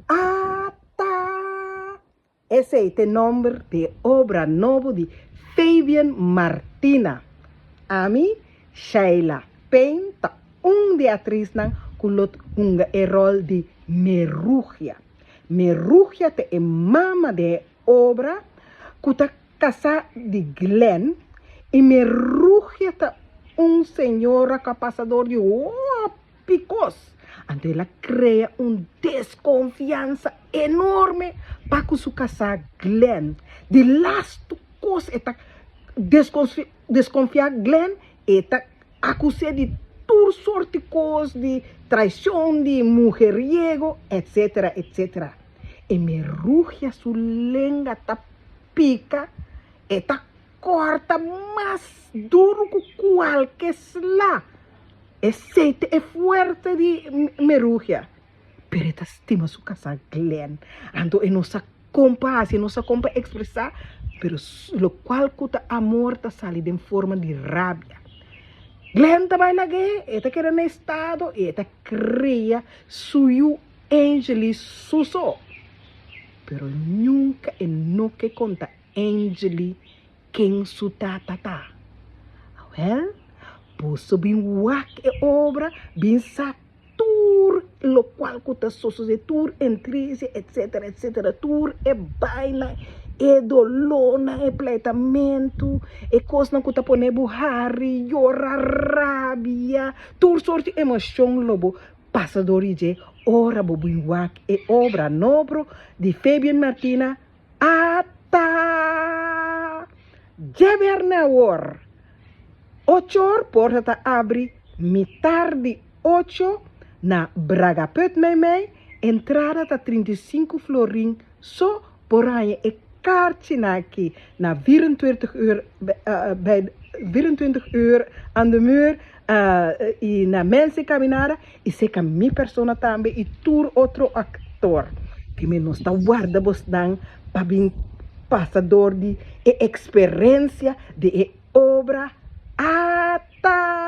Ata! Esei ta e nomber di e obra nobo di Fabian Martina. Ami, Sheila Payne, ta un di e atrisnan ku lo hunga e ròl di Merugia. Merugia ta e mama den e obra ku ta kasá di Glenn i Merugia ta un señora ku a pasa dor di hopi. Bikos anto el a krea un deskonfiansa enorme pa ku su kasá Glen. Di lastu kos e ta deskonfiá Glen, e ta akus'é di tur sorti kos, di traishon, di mujeriego, etsetera, etsetera. E me rugia, su lenga ta pika, e ta. corta mas duro cu cualke sla. E seite e fuerte di merugia. Pero e ta stima su casa Glen, anto e no sa con pa haci, e no sa con pa expresa, pero locual cu ta amor ta sali den forma di rabia. Glen ta bai lag'e, e ta keda na e estado y e ta crea su yu Angelie Suso, pero nunca e no ke conta. Angeli ken su tata ta. Awèl, boso bin wak e obra, bin sa tur lokual ku ta sosodé, tur e ntrisia, etsetera, etsetera, tur e bainan, e dolónan, e pleitamentu, e kosnan ku ta pone bo hari, yora, rabia, tur sort di emoshon lo bo pasa dor di dje ora bo bin wak e obra nobro di Fabian Martina. Ata! Dje bièrnè awor, ocho or, porta ta abri mitar di ocho na Bragapunt Meimei, entrada ta trinta i sinku florin, so por haña e karchinan aki na vierentwintig uur aan de muur. y na mes di caminada y seca mi persona tambe y tur otro actor tin me nos ta warda bos nan pa bin pasa door di e experencia di e obra ata.